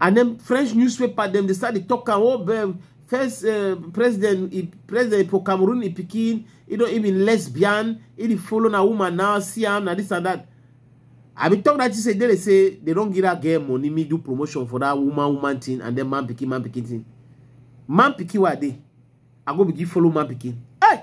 and then french newspaper dem dey start dey talk am oh be- first uh, president he, president for cameroon he pikin he don he be lesbian he dey follow na woman now see am na this and that i bin talk that thing say they dey say they don give that girl money me do promotion for that woman woman thing and then man pikin man pikin thing man pikin wey i dey i go begin follow man pikin hey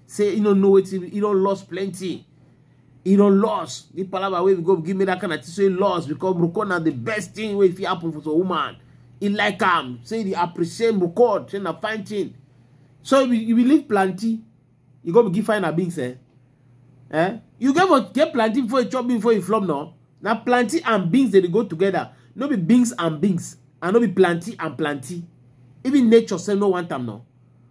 say he no know wetin he don lost plenty he don lost the palava wey go give me that kind of thing so he lost because moko na the best thing wey fit happen for some woman he like am say he appreciate moko say na fine thing so if you believe plenty you go give fine abings eh eh you get for get plantain before you chop beans before you flop no na plantain and beans dey go together no be beans and beans and no be plantain and plantain even nature sef no want am no